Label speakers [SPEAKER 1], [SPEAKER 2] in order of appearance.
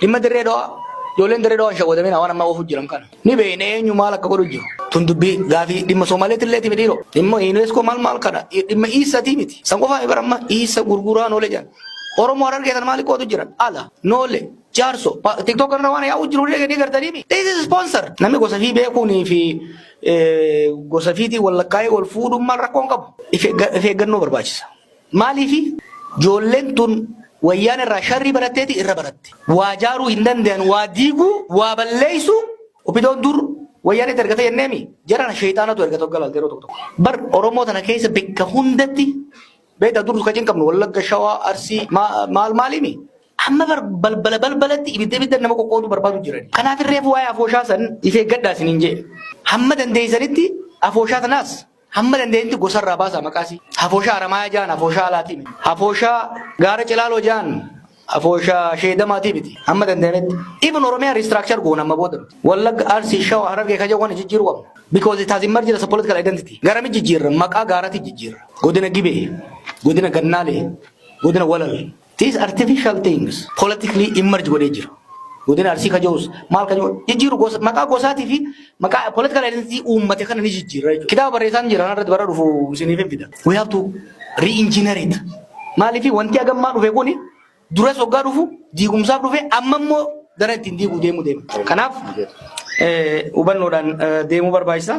[SPEAKER 1] Dhimma dirree dhawaa ijoolleen dirree dhawaa hin shawwadamina waan ammaa oofuu jiran kana. Ni beekne eenyu maal akka godhu jiru. Tun dubbii gaafii dhimma Soomaaleetti illee miti dhiiroo. Dhimma UNESCO maal maal kana dhimma iissatii miti. San qofaa bara amma iissa gurguraa noole jedhan. Oromoo harargee sana maal qootu jiran ala noole jaarso tiktok irra waan yaa'u jiru ni gartanii mi. This is sponsor. Namni gosa fi beekuunii fi gosa fiitii wal lakkaa'ee wal fuudhuun maal rakkoon qabu. If eeggannoo barbaachisa. Maaliifi? Joolleen tun Wayyaanee irraa sharrii baratteeti, irra baratte. Waa jaaruu hin dandayan, waa diiguu, waa balleessuu. Opidoon dur Wayyaaneetti ergate jenneemi? Jarana sheeyxaanatu ergata hogga laalte yeroo tokko tokko. Bar Oromoo tana keessa bekka hundatti beektaa dur ka cinqamnu Wallagga, Shawaa, Arsii ma maal maaliimi? Amma bar balbala balbalatti ibidda ibiddan nama qoqqooduu barbaadu jirani. Kanaafin reefu waa'ee afooshaa san if eeggadhaa isiniin je'e. Hamma dandeeysanitti afooshaa tanaas Hamma danda'etti gosa irraa baasaa maqaa isii. Hafooshaa Aramaayaa ja'an hafooshaa alaatii miti. Hafooshaa gaara Cilaaloo ja'an hafooshaa sheedamaatii miti. Hamma danda'ametti. Even Oromiyaa restructure goona amma booda nuti. Wallagga, Arsii, Shawa, Harargee ka ja'u kana jijjiiruu qabna. Because it has emerged as a political identity. Garami jijjiirra? Maqaa gaaratii jijjiirra. Godina Gibee, godina Gannaalee, godina Walal. These artificial things politically emerge godhee jira. Godina Arsii ka jirus maal ka jiru jijjiiru gosa- maqaa gosaatii fi maqaa political identity uummate kana ni jijjiirra jechuudha. Kitaaba barreessaan jira kanarratti bara dhufu isiniif hin fida. We have to re-engineer it. Maaliif wanti hagammaa dhufe kuni duras waggaa dhufu diigumsaaf dhufe amma immoo gara ittiin diiguu deemu deema. Kanaaf eh, hubannoodhaan eh, deemuu barbaachisa.